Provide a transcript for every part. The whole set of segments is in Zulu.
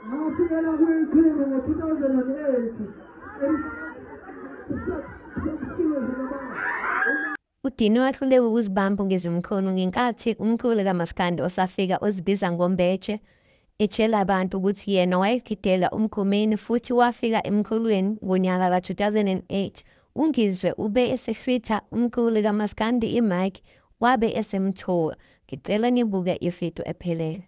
ngafikela kwikhulu ngo-2008 UDini wahluleka ukuzibamba ngezimkhono ngenkathi umculi kamaskandi osafika ozibiza ngoMbeje etshela abantu ukuthi yena wayegidela uMgomeni futhi wafika emculweni ngonyaka ka-2008. UNgizwe ube esehlwitha umculi kamaskandi i-mic wabe esemthola. Ngicela nibuke ividiyo ephelele.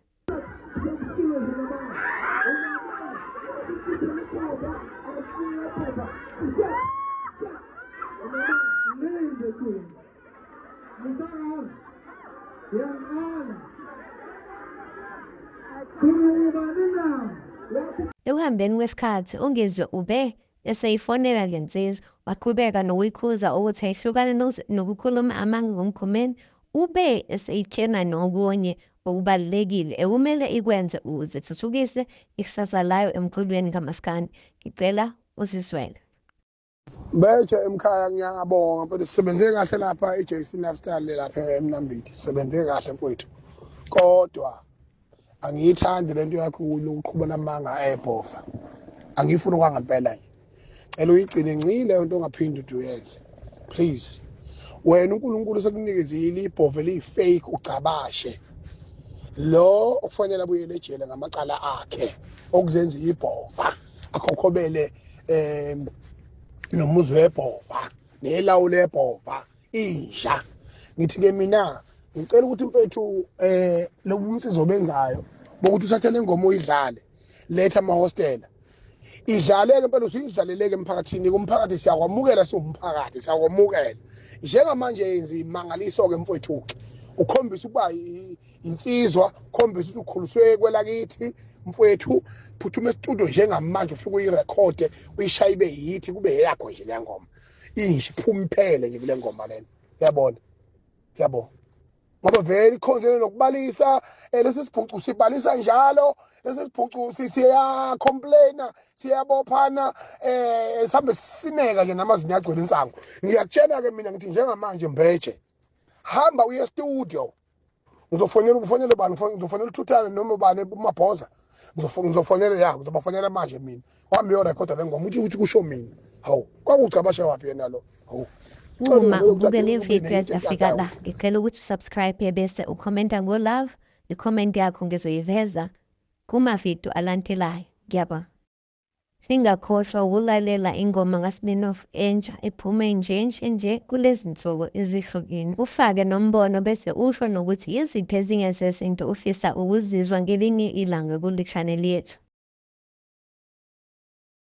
Ekuhambeni kwesikhathi uNgizwe ube eseyifonela le nsizwa, waqhubeka nokuyikhuza ukuthi ayihlukane nokukhuluma amanga ngoMgomeni, ube eseyitshena nokunye okubalulekile ekumele ikwenze ukuze ithuthukise ikusasa layo emculweni kamaskandi. Ngicela usizwele. Betshe emkhaya ngiyabonga mfethu sisebenze kahle lapha iJC Lifestyle lapha eMnambithi sisebenze kahle mfethu kodwa angiyithandi lento yakho uqhuba namanga ayebhofa angiyifuni kwangempela nje cela uyigcine ncile into ongaphindi uduyenze please wena unkulunkulu sekunikezile ibhove liyi-fake ugcabashe lo okufanele abuyele ejele ngamacala akhe okuzenza ibhova akhokhobele um nomuzi webhova nelawulo ebhova inja ngithi ke mina ngicela ukuthi mfethu eh lobu umsizo benzayo bokuthi uthathe lengoma uyidlale letha ama hostela idlaleke impela usuyidlaleleke emphakathini kumphakathi siyakwamukela siwumphakathi siyakwamukela njengamanje yenza imangaliso-ke mfwethu-ke ukhombisa ukuba insizwa ukhombisa ukuthi ukhuliswe kwelakithi mfwethu phuthuma esitudio njengamanje ufike uyirekhode uyishaye ibe yithi kube yeyakho nje le ngoma inje phuma iphele nje kule ngoma lena yabona yabo ngoba vele ikhonzele nokubalisa eh, lesi sibhucu sibalisa njalo lesi sibhucu siya complaina siyabophana eh sihambe sisineka nje namazinyo agcwele insangu ngiyakutshena ke mina ngithi njengamanje mbeje hamba uye studio ngizofonela ngifonele bani ngizofonela uthuthane noma ubani umabhoza ngizofonela ya ngizobafonela manje mina wami yorekhoda le ngoma uthi ukuthi kusho mina hawu kwakucabasha waphi yena lo hawu uma ubuke le video yafika la ngicela ukuthi usubscribe bese ukhomenta ngolove ikhomenti yakho ngizoyiveza kumavidiyo alandelayo ngiyabonga Singakhohlwa ukulalela ingoma kaSmirnoff entsha ephume nje nje nje kulezinsuku ezihlukene, ufake nombono bese usho nokuthi yiziphi ezinye zezinto ofisa ukuzizwa ngelinye ilanga kule channel yethu.